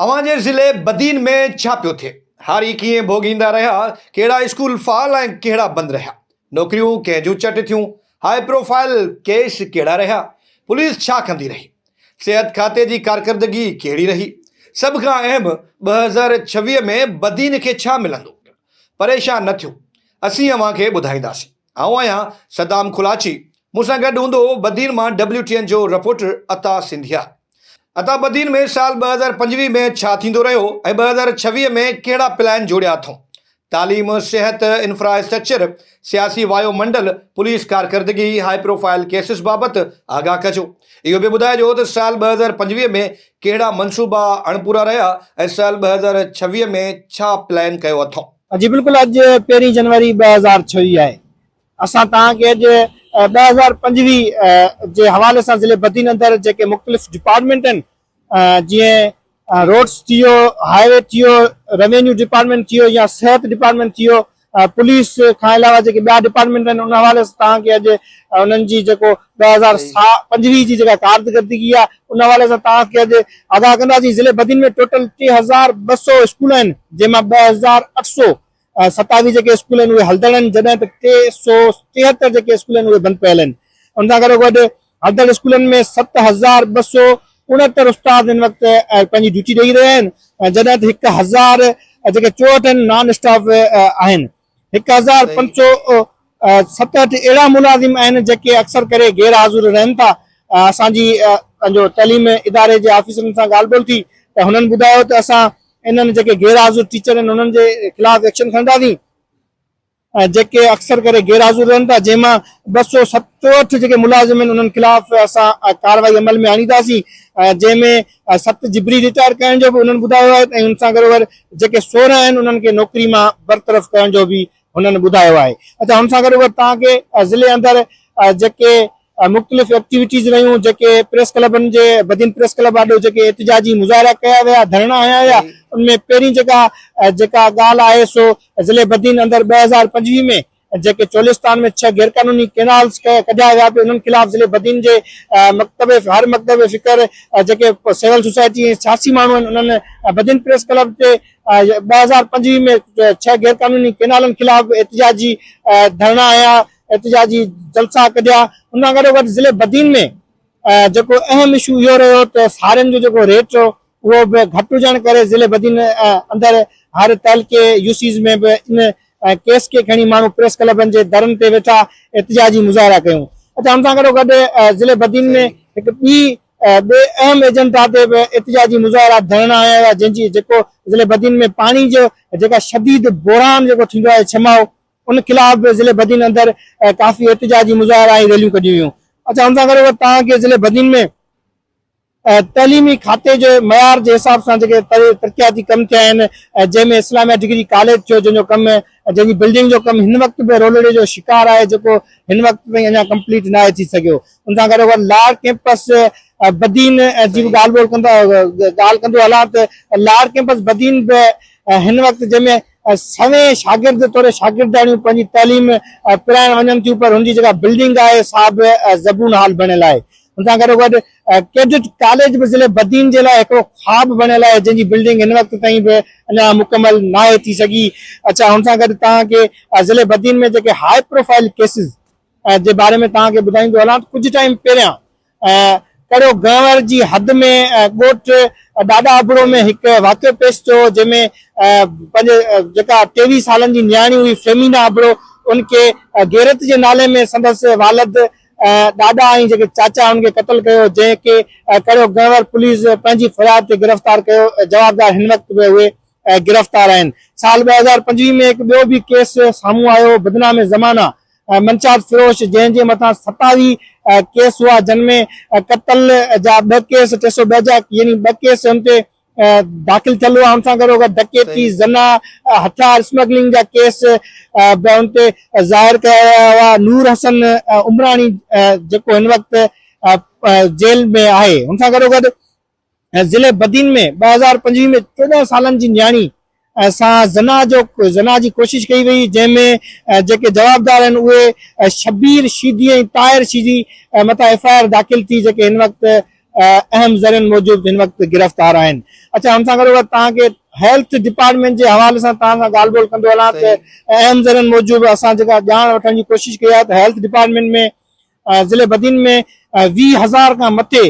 اوهان جي ضلعي بدين ۾ ڇا پيو ٿئي؟ هاري ڪيئن ڀوڳيندا رهيا؟ ڪهڙا اسڪول فعال ۽ ڪهڙا بند رهيا؟ نوڪريون ڪنهن جون چٽ ٿيون؟ هاء پروفائيل ڪيس ڪهڙا رهيا؟ پوليس ڇا ڪندي رهي؟ صحت کاتي جي ڪارڪردگي ڪهڙي رهي؟ سڀ کان اهم ٻه هزار ڇويهه ۾ بدين کي ڇا ملندو؟ پريشان نه ٿيو، اسين اوهان کي ٻڌائينداسين. آئون آهيان صدام ڪولاچي. مون سان گڏ هوندو هو بدين مان ڊبليو ٽي اين جو رپورٽر عطا سنڌيا. عطا بدين ۾ سال ٻه هزار پنجويهه ۾ ڇا ٿيندو رهيو ۽ ٻه هزار ڇويهه ۾ ڪهڙا پلان جوڙيا اٿئون؟ تعليم، صحت، انفراسٽرڪچر، سياسي وايو منڊل، پوليس ڪارڪردگي، هاء پروفائل ڪيسز بابت آگاهه ڪجو. اهو به ٻڌائجو ته سال ٻه هزار پنجويهه ۾ ڪهڙا منصوبا اڻپورا رهيا ۽ سال ٻه هزار ڇويهه ۾ ڇا پلان ڪيو اٿئون؟ جي بلڪل اڄ پهرين جنوري ٻه هزار ڇويهه آهي اسان توهان کي اڄ ٻه هزار پنجويهه جي حوالي سان ضلعي بدين اندر جيڪي مختلف ڊپارٽمينٽ آهن جيئن روڊس ٿي ويو هاء وي ٿي ويو روينيو ڊپارٽمينٽ ٿي ويو يا صحت ڊپارٽمينٽ ٿي ويو پوليس کان علاوه جيڪي ٻيا ڊپارٽمينٽ آهن ان حوالي سان توهان کي اڄ انهن جي جيڪو ٻه هزار پنجويهه جي جيڪا ڪارڪردگي آهي ان حوالي سان توهان کي اڄ آگاهه ڪنداسين، ضلعي بدين ۾ ٽوٽل ٽي هزار ٻه سؤ اسڪول آهن جنهن مان ٻه هزار اٺ سؤ ستاويهه جيڪي اسڪول آهن اهي هلدڙ آهن جڏهن ته ٽي سؤ ٽيهتر جيڪي اسڪول آهن اهي بند پيل آهن ان سان گڏو گڏ هلدڙ اسڪولن ۾ ست هزار ٻه سؤ اڻهتر استاد هن وقت پنهنجي ڊيوٽي ڏئي رهيا آهن جڏهن ته هڪ هزار جيڪي چوهٺ آهن نان اسٽاف آهن هڪ هزار پنج سؤ ستهٺ اهڙا ملازم آهن جيڪي اڪثر ڪري غير حاضر رهن ٿا اسان جي پنهنجو تعليم اداري جي آفيسرن سان ڳالهه ٻولهه ٿي ته هنن ٻڌايو ته اسان انهن جيڪي غير حاضر ٽيچر آهن انهن جي خلاف ايڪشن کڻنداسين جيڪي اڪثر ڪري غير حاضر رهن ٿا جنهن مان ٻه سؤ ست چوهٺ جيڪي ملازم آهن انهن خلاف اسان ڪارروائي عمل ۾ آڻينداسين جنهن ۾ سخت جبري رٽائر ڪرڻ جو به هنن ٻڌايو آهي ۽ ان سان گڏوگڏ جيڪي سورهن آهن انهن کي نوڪري مان برطرف ڪرڻ جو به هنن ٻڌايو آهي اچا ان سان گڏوگڏ توهان کي ضلعي اندر جيڪي مختلف ايڪٽيوٽيز رهيون جيڪي پريس ڪلبن جي بدين پريس ڪلب آڏو جيڪي احتجاجي مظاهرا ڪيا ويا ڌرڻا هنيا ويا ان ۾ پهرين جيڪا جيڪا ڳالهه آهي سو ضلعي بدين اندر ٻه هزار پنجويهه ۾ جيڪي چولستان ۾ ڇهه غيرقانوني ڪينالز ڪڍيا ويا پي انهن خلاف ضلعي بدين جي مڪتب هر مڪتب فڪر جيڪي سول سوسائٽي ۽ سياسي ماڻهو آهن انهن بدين پريس ڪلب تي ٻه هزار پنجويهه ۾ ڇهه غيرقانوني ڪينالن خلاف به احتجاجي ڌرڻا هنيا احتجاجي جلسا ڪڍيا ان سان گڏو گڏ ضلعي بدين ۾ جيڪو اهم اشو اهو رهيو ته سارين جو جيڪو ريٽ هو اهو به گهٽ هجڻ ڪري ضلعي بدين اندر هر تعلقي يوسيز ۾ به ان ڪيس کي کڻي ماڻهو پريس ڪلبن جي درن تي ويٺا احتجاجي مظاهرا ڪيون اچا ان سان گڏو گڏ ضلعي بدين ۾ هڪ ٻي ٻي اهم ايجنڊا تي به احتجاجي مظاهرا ڌرڻا هنيا ويا جن جي جيڪو ضلعي بدين ۾ پاڻي جو جيڪا شديد بحران جيڪو ٿيندو آهي ڇماء ان خلاف به ضلعي بدين اندر ڪافي احتجاجي مظاهرا ۽ ريليون ڪڍيون ويون اچا ان سان گڏو گڏ تان ضلعي بدين ۾ تعليمي کاتي جي معيار جي حساب سان جيڪي ترقياتي ڪم ٿيا آهن جنهن ۾ اسلاميه ڊگري ڪاليج ٿيو جنهن جو ڪم جنهن جي بلڊنگ جو ڪم هن وقت به رولڙي جو شڪار آهي جيڪو هن وقت تائين اڃا ڪمپليٽ ناهي ٿي سگهيو ان سان گڏو گڏ لاڙ ڪيمپس بدين جي به ڳالهه ٻولهه ڪندا ڳالهه ڪندو هلان ته لاڙ ڪيمپس بدين به هن وقت جنهن ۾ سوين شاگرد توڙي شاگردياڻيون پنهنجي تعليم پرائڻ وڃن ٿيون پر هن جي جيڪا بلڊنگ آهي سا به زبون حال بڻيل آهي ان سان گڏو گڏ ڪيڊٽ ڪاليج به ضلعي بدين جي لاء هڪڙو خواب بڻيل آهي جنهن جي بلڊنگ هن وقت تائين به اڃا مڪمل ناهي ٿي سگهي اڇا ان سان گڏ توهان کي ضلعي بدين ۾ جيڪي هاء پروفائل ڪيسز جي باري ۾ توهان کي ٻڌائيندو هلان ته ڪجهه ٽائيم پهريان ڪڙو گنور جي حد ۾ ڳوٺ ڏاڏا ابڙو ۾ هڪ واقعو پيش ٿيو جنهن ۾ پنهنجي جيڪا ٽيويهه سالن جي نياڻي هئي فيمينا ابڙو ان کي غيرت جي نالي ۾ سندس والد ڏاڏا ۽ جيڪي چاچا هن کي قتل ڪيو جنهن کي ڪريو گهروار پوليس پنهنجي فرياد تي گرفتار ڪيو جوابدار هن وقت به اهي گرفتار آهن سال ٻه هزار پنجويهه ۾ هڪ ٻيو به ڪيس سامهون آيو هو بدنام زمانه منشاد فروش جنهن جي مٿان ستاوي ڪيس هئا جن ۾ قتل جا ٻه ڪيس ٽي سو ٻه جا يعني ٻه ڪيس هن تي داخل ٿيل هئا ان سان گڏوگڏ ڊڪيتي زنا هٿيار اسمگلنگ جا ڪيس به ان تي ظاهر ڪيا ويا هئا نور حسن عمراڻي جيڪو هن وقت جيل ۾ آهي ان سان گڏوگڏ ضلعي بدين ۾ ٻه هزار پنجويهه ۾ چوڏهن سالن جي نياڻي سان زنا جو زنا جي ڪوشش ڪئي وئي جنهن ۾ جيڪي جوابدار آهن اهي شبير شيدي ۽ طاهر شيدي مٿان ايف آء آر داخل ٿي جيڪي هن وقت اهم ذريعن موجب هن وقت گرفتار آهن اچا هن سان گڏو گڏ توهان کي هيلٿ ڊپارٽمينٽ جي حوالي سان توهان سان ڳالهه ٻولهه ڪندو هلان ته اهم ذريعن موجب اسان جيڪا ڄاڻ وٺڻ جي ڪوشش ڪئي آهي ته هيلٿ ڊپارٽمينٽ ۾ ضلعي بدين ۾ ويهه هزار کان مٿي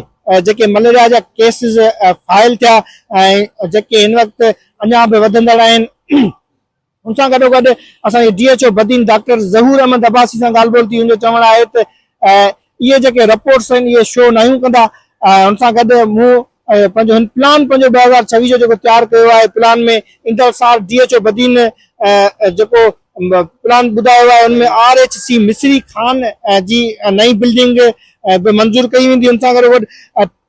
جيڪي مليريا جا ڪيسز فائل ٿيا ۽ جيڪي هن وقت اڃا به وڌندڙ آهن ان سان گڏو گڏ اسان جي D H O Badin doctor Zahoor Ahmed Abbasi سان ڳالهه ٻولهه ٿي ان جو چوڻ آهي ته اهي جيڪي رپورٽس آهن اهي شو ناهيون ڪندا ان سان گڏ مون ۽ پنهنجو هن پلان پنهنجو ٻه هزار ڇويهه جو جيڪو تيار ڪيو آهي پلان ۾ انتظار ڊي ايڇ او بدين جيڪو پلان ٻڌايو آهي ان ۾ R H C Misri Khan جي نئين بلڊنگ به منظور ڪئي ويندي ان سان گڏ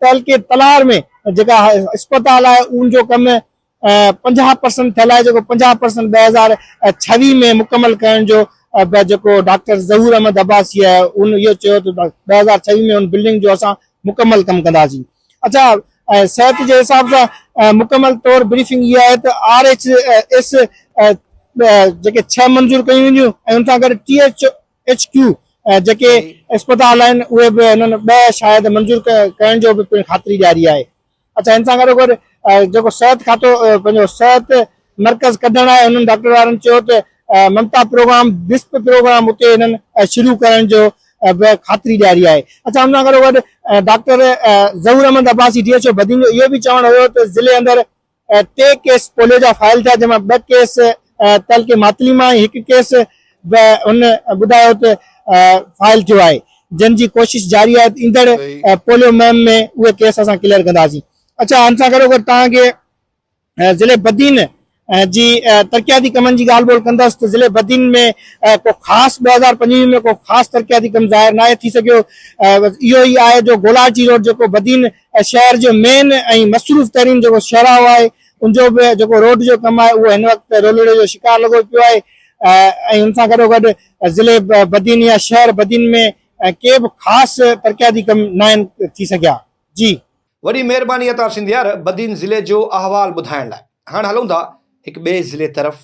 تعلقي تلار ۾ جيڪا اسپتال آهي ان جو ڪم پنجاهه پرسنٽ ٿيل آهي جيڪو پنجاهه پرسنٽ ٻه هزار ڇويهه ۾ مڪمل ڪرڻ جو به جيڪو ڊاڪٽر ظهور احمد عباسيء ان اهو چيو ته ٻه هزار ڇويهه ۾ ان بلڊنگ جو اسان مڪمل ڪم ڪنداسين اڇا صحت جي حساب سان مڪمل طور بريفنگ اها آهي ته آر ايڇ ايس جيڪي ڇهه منظور ڪيون وينديون ۽ ان سان گڏ ٽي ايڇ ايڇ ڪيو جيڪي اسپتال آهن اهي به هنن ٻه شايد منظور ڪرڻ جو به پڻ خاطري ڏياري آهي اچا ان سان گڏو گڏ جيڪو صحت کاتو پنهنجو صحت مرڪز ڪڍڻ آهي انهن ڊاڪٽر وارن چيو ته ممتا پروگرام بسپ پروگرام اتي انهن شروع ڪرڻ جو به خاطري ڏياري آهي اچا ان سان گڏو گڏ doctor Zahoor Ahmed Abbasi D H O Badin جو اهو به چوڻ هيو ته ضلعي اندر ٽي ڪيس پوليو جا فائل ٿيا جنهن مان ٻه ڪيس تعلقي ماتلي مان ئي هڪ ڪيس به هن ٻڌايو ته فائل ٿيو آهي جنھن جي ڪوشش جاري آهي ته ايندڙ پوليو مهم ۾ اهي ڪيس اسان ڪليئر ڪنداسين اڇا ان سان گڏوگڏ توهان کي ضلعي بدين جي ترقياتي ڪمن جي ڳالھ ٻولھ ڪندس ته ضلعي بدين ۾ ڪو خاص ٻه هزار پنجويهه ۾ ڪو خاص ترقياتي ڪم ظاهر ناهي ٿي سگهيو اهو ئي آهي جو گولاچي روڊ جيڪو بدين شهر جو مين ۽ مصروف ترين جيڪو شهراهو آهي ان جو به جيڪو روڊ جو ڪم آهي اهو هن وقت رولڙي جو شڪار لڳو پيو آهي ۽ ان سان گڏوگڏ ضلعي بدين يا شهر بدين ۾ ڪي به خاص ترقياتي ڪم ناهن ٿي سگهيا جي. وڏي مهرباني عطا سنڌيار بدين ضلعي جو احوال ٻڌائڻ لاء. هاڻ هلون ٿا هڪ ٻئي ضلعي طرف.